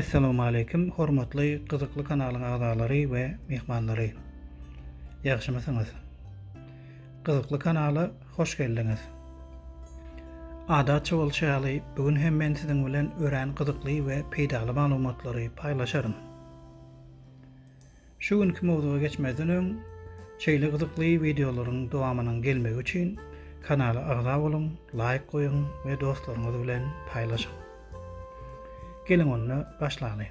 Essalawmaleýkim hormatly gyzykly kanalyň agzalary we myhmanlary. Ýagşymysyňyz? Gyzykly kanala hoş geldiňiz. Adatça bolşy ýaly bu gün hem men siziň bilen örän gyzykly we peýdaly maglumatlary paýlaşaryn. Şu günki mowzuga geçmezden öň şeýle gyzykly wideolaryň dowamynyň gelmegi üçin kanala agza boluň, laýk goýuň we dostlaryňyz bilen paýlaşyň. Geliň onda başlalyň.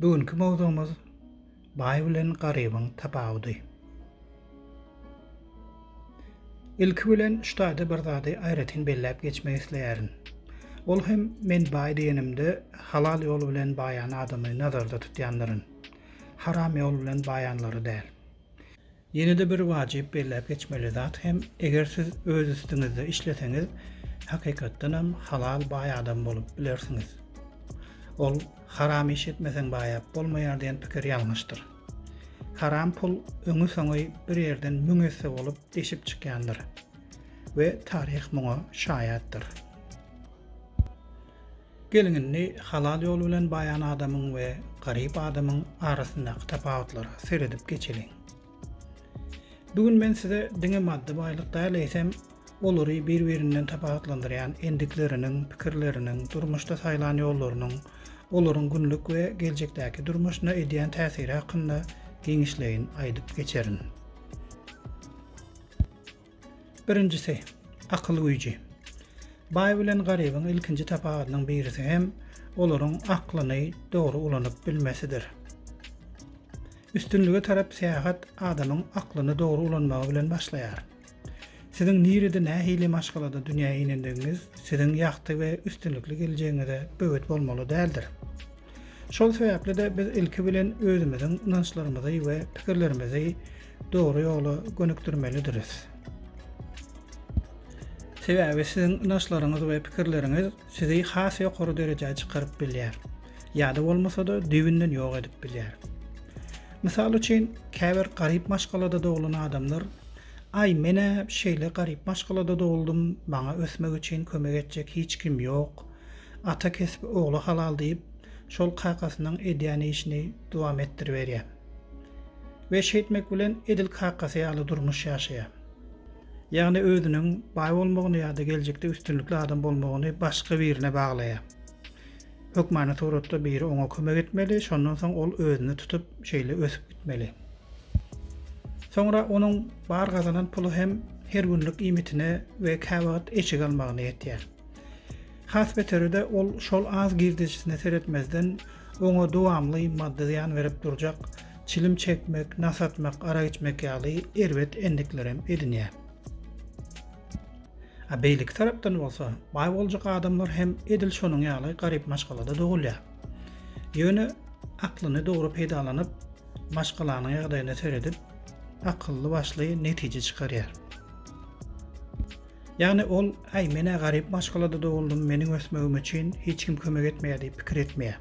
Bu günki mowzugymyz Baý bilen garybyň tapawudy. Ilki bilen şu taýda bir zady aýratyn belläp geçmek isleýärin. Ol hem men baý diýenimde halal ýol bilen baýan adamy nazarda tutýandyryn. Haram ýol bilen baýanlary däl. Ýene-de bir wajyp belläp geçmeli zat hem, eger siz öz üstüňizde işleseňiz, hakykatdanam halal baý adam bolup bilersiňiz. Ol Haram iş etmeseň baýap bolmaýar diýen pikir ýalňyşdyr. Haram pul öňi-soňy bir ýerden müň esse bolup deşip çykýandyr we taryh muňa şaýatdyr. Geliň indi halal ýol bilen baýan adamyň we garyp adamyň arasyndaky tapawutlara seredip geçeliň. Bu gün men size diňe maddy baýlyk däl eýsem olary bir birinden tapawutlandyrýan endikleriniň, pikirleriniň, durmuşda saýlan ýollarynyň olaryň günlük we geljekdäki durmuşyna edýän täsiri hakynda giňişleýin aýdyp geçerin. Birinjisi, akyl güýji. Baý bilen garybyň ilkinji tapawudynyň birisi hem olaryň aklyny dogry ulanyp bilmesidir. Üstünlige tarap syýahat adamyň aklyny dogry ulanmagy bilen başlaýar. Siziň nirede nähili maşgalada dünýä inendigiňiz siziň ýagty we üstünlikli geljegiňize böwet bolmaly däldir. Şol sebäpli-de biz ilki bilen özümiziň ynançlarymyzy we pikirlerimizi dogry ýola gönükdirmelidiris. Sebäbi siziň ynançlaryňyz we pikirleriňiz sizi has ýokary derejä çykaryp bilýär, ýa-da bolmasa-da düýbünden ýok edip bilýär. Mysal üçin, käbir garyp maşgalada doglan adamlar, Aý, men-ä şeýle garyp maşgalada doguldym, maňa ösmek üçin kömek etjek hiç kim ýok. Ata kesbi ogla halal diýip, şol kakasynyň edýän işini dowam etdiriberýär. We şeýtmek bilen edil kakasy ýaly durmuş ýaşaýar. Ýagny özüniň baý bolmagyny ýa-da geljekde üstünlikli adam bolmagyny başga birine baglaýar. Hökmany suratda biri oňa kömek etmeli, şondan soň ol özüni tutup şeýle ösüp gitmeli. Soňra onuň bar gazanan puly hem her günlük iýmitine we käwagt eşik almagyna ýetýär. Has beteri-de ol şol az girdejisine seretmezden, oňa dowamly maddy zyýan berip durjak, çilim çekmek, nas atmak, arak içmek ýaly erbet endiklerem edinýär. A beýleki tarapdan bolsa, baý boljak adamlar hem edil şonuň ýaly garyp maşgalada dogulýar. Ýöne aklyny dogry peýdalanyp, maşgalanyň ýagdaýyna seredip, akylly-başly netije çykarýar. Ýagny ol, Äý, men-ä garyp maşgalada doguldym, meniň ösmegim üçin hiç kim kömek etmeýär diýip pikir etmeýär.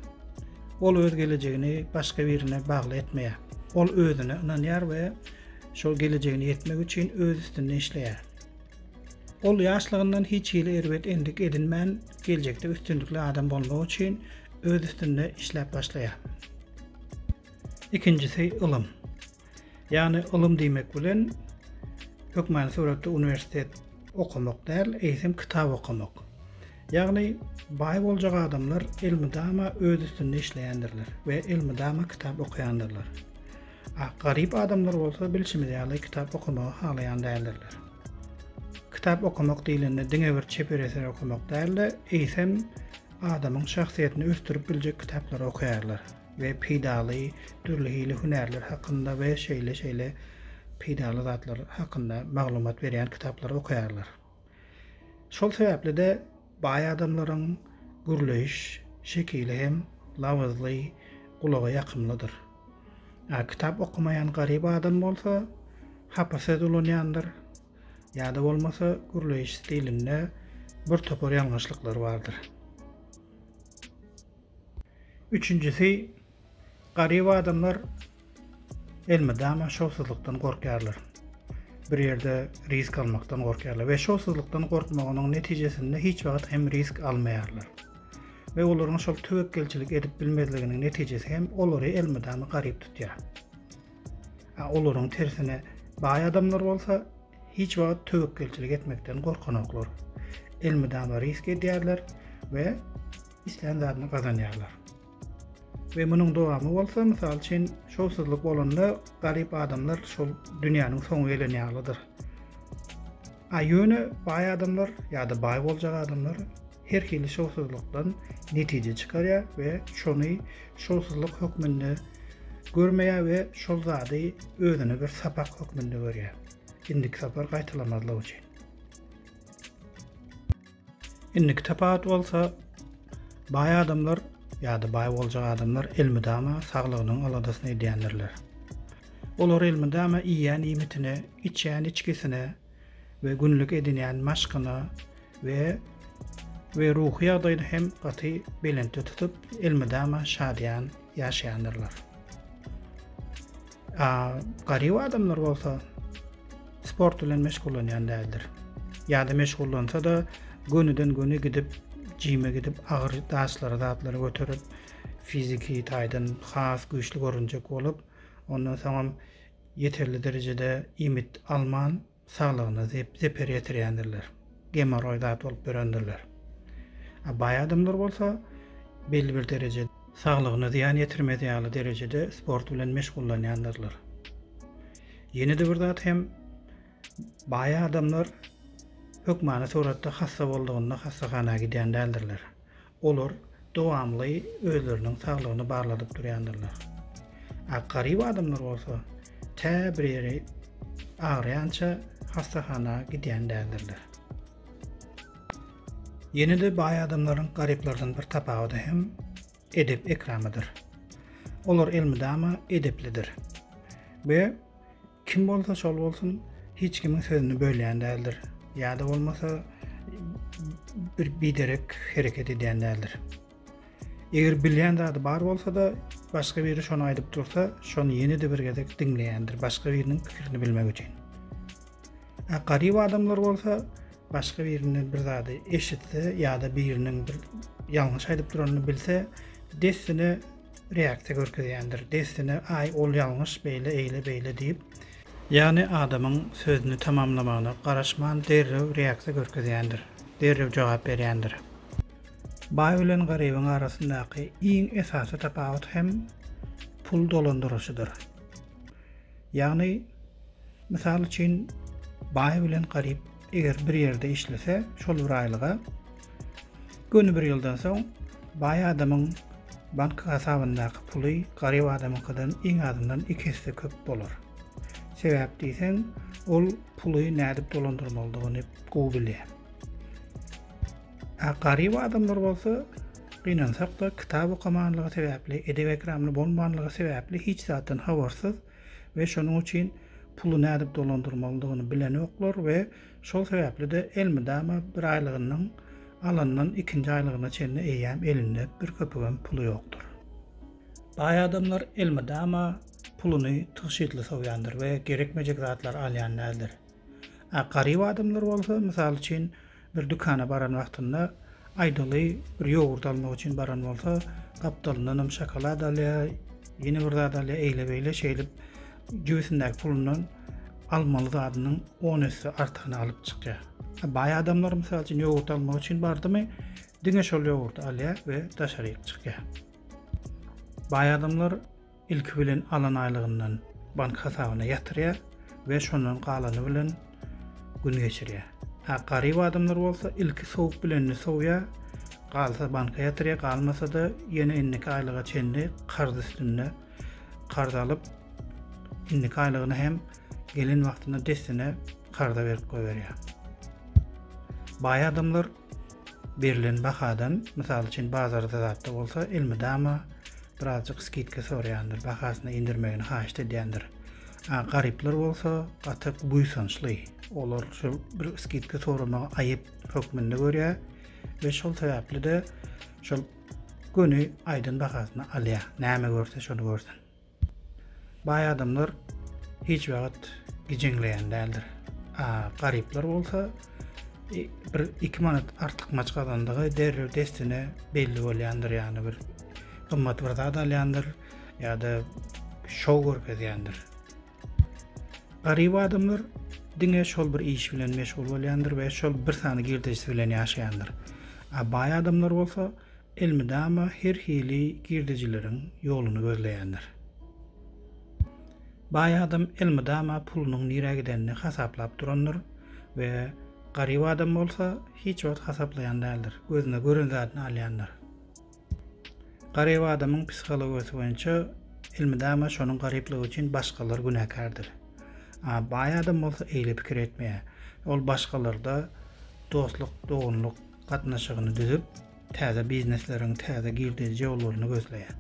Ol öz gelejegini başga birine bagly etmeýär. Ol özüne ynanýar we şol gelejegine ýetmek üçin öz üstünde işleýär. Ol ýaşlygyndan hiç hili erbet endik edinmän, geljekde üstünlikli adam bolmak üçin öz üstünde işläp başlaýar. Ikinjisi, ylym. Ýagny ylym diýmek bilen hökmany suratda uniwersitet okamak däl, eýsem kitap okamak. Ýagny baý boljak adamlar elmydama öz üstünde işleýändirler we elmydama kitap okaýandyrlar. A garyp adamlar bolsa bilşimiz ýaly kitap okamagy halaýan däldirler. Kitap okamak diýlende diňe bir çeper eser okamak däl-de, eýsem adamyň şahsyýetini ösdürip biljek kitaplary okaýarlar. we peýdaly dürli hili hünärler hakynda we şeýle şeýle peýdaly zatlar hakynda maglumat berýän kitaplary okaýarlar. Şol sebäpli-de baý adamlaryň gürleýiş şekili hem labyzly, gulaga ýakymlydyr. A kitap okamaýan garyp adam bolsa hapa söz ulanýandyr ýa-da bolmasa gürleýiş stilinde bir topar ýalňyşlyklary bardyr. Üçünjisi, garyp adamlar elmydama şowsuzlykdan gorkýarlar. Bir ýerde risk almakdan gorkýarlar we şowsuzlykdan gorkmagynyň netijesinde hiç wagt hem risk almaýarlar. We olaryň şol töwekgelçilik edip bilmezliginiň netijesi hem olary elmydama garyp tutýar. A olaryň tersine baý adamlar bolsa hiç wagt töwekgelçilik etmekden gorkanoklar. Elmydama risk edýärler we islän zadyny gazanýarlar. We munuň dowamy bolsa, mysal üçin, şowsuzlyk bolanda garyp adamlar şol dünýäniň soňy gelen ýalydyr. A ýöne baý adamlar ýa-da baý boljak adamlar her hili şowsuzlykdan netije çykarýar we şony şowsuzlyk hökmünde görmeýär we şol zady özüne bir sapak hökmünde görýär. Indiki sapar gaýtalamazlyk üçin. Indiki tapawut bolsa baý adamlar ýa-da baý boljak adamlar elmydama saglygynyň aladasyny edýändirler. Olar elmydama iýýän iýmitine, içýän içgisine we günlük edinýän maşkyna we we ruhy ýagdaýyny hem gaty belentde tutup, elmydama şadyýan ýaşaýandyrlar. A garyp adamlar bolsa sport bilen meşgullanýan däldir. Ýa-da meşgullansa-da gönüden-göni gidip, jime gidip, agyr daşlary, zatlary göterip, fiziki taýdan has güýçli görünjek bolup, ondan soň hem ýeterli derejede iýmit alman, saglygyna zeper ýetirýändirler. Gemoroý zat bolup ýörendirler. A baý adamlar bolsa belli bir derejede saglygyna zyýan ýetirmez ýaly derejede sport bilen meşgullanýandyrlar. Ýene-de bir zat hem baý adamlar hökmany suratda hassa boldugynda hassahana gidýän däldirler. Olar dowamly özleriniň saglygyny barladyp durýandyrlar. A garyp adamlar bolsa tä bir ýeri agyrýança hassahana gidýän däldirler. Ýene-de baý adamlaryň garyplardan bir tapawudy hem edep-ekramydyr. Olar elmydama edeplidir we Kim bolsa şol bolsun, hiç kimiň sözüni bölýän däldir. Ýa-da bolmasa bir biderek hereket edýän däldir. Eger bilýän zady bar bolsa-da, başga biri şony aýdyp dursa, şony ýene-de bir gezek diňleýändir, başga biriniň pikirini bilmek üçin. Ä garyp adamlar bolsa, başga birinden bir zady eşitse ýa-da biriniň bir ýalňyş aýdyp duranyny bilse, dessine reaksiýa görkezýändir. Dessine Aý ol ýalňyş beýle eýle beýle diýip. Ýagny adamyň sözüni tamamlamagyna garaşman derrew reaksiýa görkezýändir. Derrew jogap berýändir. Baý bilen garybyň arasyndaky iň esasy tapawut hem pul dolandyryşydyr. Ýagny mysal üçin baý bilen garyp Eger bir ýerde işlese, şol bir aýlyga göni bir ýyldan soň baý adamyň bank hasabyndaky puly garyp adamyňkydan iň azyndan iki esse köp bolar. Sebäp diýseň, ol puly nädip dolandyrmalydygyny gowy bilýär. A garyp adamlar bolsa gynansak-da, kitap okamanlygy sebäpli, edep-ekramly bolmanlygy sebäpli hiç zatdan habarsyz, we şonuň üçin puly nädip dolandyrmalydygyny bilenoklar we şol sebäpli-de elmydama bir aýlygyndan alandan ikinji aýlygyna çenli eýýäm elinde bir köpügem puly ýokdur. Baý adamlar elmydama puluny tygşytly sowýandyr we gerekmejek zatlary alýan däldir. A garyp adamlar bolsa, mysal üçin, Bir dükana baran wagtynda, aýdaly, bir ýogurt almak üçin baran bolsa, gapdalyndanam şokolad alýar, ýene bir zat alýar, eýle-beýle şeýdip, jübüsindäki pulundan almaly zadynyň on esse artygyny alyp çykýar. A baý adamlar, mysal üçin, ýogurt almak üçin bardymy, diňe şol ýogurty alýar we daşaryk çykýar. Baý adamlar Ilki bilen alan aýlygyndan bank hasabyna ýatyrýar we şondan galany bilen gün geçirýär. Hä, garyp adamlar bolsa ilki sowup bilenini sowýar, galsa banka ýatyrýar, galmasa-da ýene indiki aýlyga çenli karz üstünde karz alyp, indiki aýlygyny hem gelen wagtynda dessine karza berip goýberýär. Baý adamlar Berlen bahadan, mysal üçin bazarda zatda bolsa, elmydama birazjyk skidka soraýandyr, bahasyny indirmegini haýyşt edýändir. A garyplar bolsa gaty buýsançly. Olar şu bir skidka soramagy aýyp hökmünde görýär we şol sebäpli-de şol göni aýdan bahasyny alýar. Näme görse şony görsün. Baý adamlar hiç wagt gijeňleýän däldir. A garyplar bolsa e, bir 2 manat artykmaç gazandygy derrew dessine belli bolýandyr, ýagny bir gymmat bir zat alýandyr ýa-da şow görkezýändir. Garyp adamlar diňe şol bir iş bilen meşgul bolýandyr we şol bir sany girdejisi bilen ýaşaýandyr. A baý adamlar bolsa elmydama her hili girdejileriň ýoluny gözleýändir. Baý adam elmydama pulunyň nirä gidenini hasaplap durandyr we garyp adam bolsa hiç wagt hasaplaýan däldir, gözüne gören zadyny alýandyr. Garyp adamyň psihologiýasy boýunça elmydama şonuň garyplygy üçin başgalar günäkärdir. A baý adam bolsa eýle pikir etmeýär. Ol başgalarda dostluk, doganlyk gatnaşygyny düzüp, täze biznesleriň täze girdeji ýollaryny gözleýär.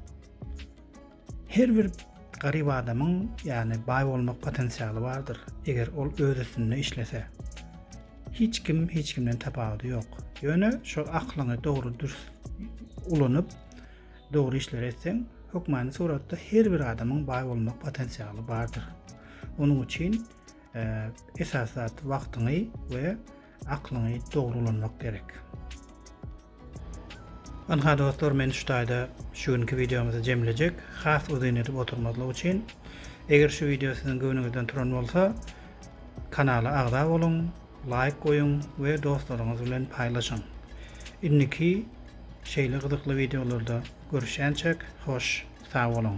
Her bir garyp adamyň, ýagny baý bolmak potensialy bardyr, eger ol öz üstünde işlese. Hiç kim hiç kimden tapawudy ýok. Ýöne şol aklyňy dogry dürs ulanyp, dogry işleri etseň, hökmany suratda her bir adamyň baý bolmak potensialy bardyr. Onuň üçin e, esas zat wagtyňy we Aklyňy dogry ulanmak gerek. Ynha dostlar men şu taýda şu günki videomyzy jemlejek. Has uzyn edip oturmazlyk üçin. Eger şu video siziň göwnüňizden turan bolsa, kanala agza boluň, laýk goýuň we dostlaryňyz bilen paýlaşyň. Indiki şeýle gyzykly videolarda görüşýänçek, hoş, sag boluň.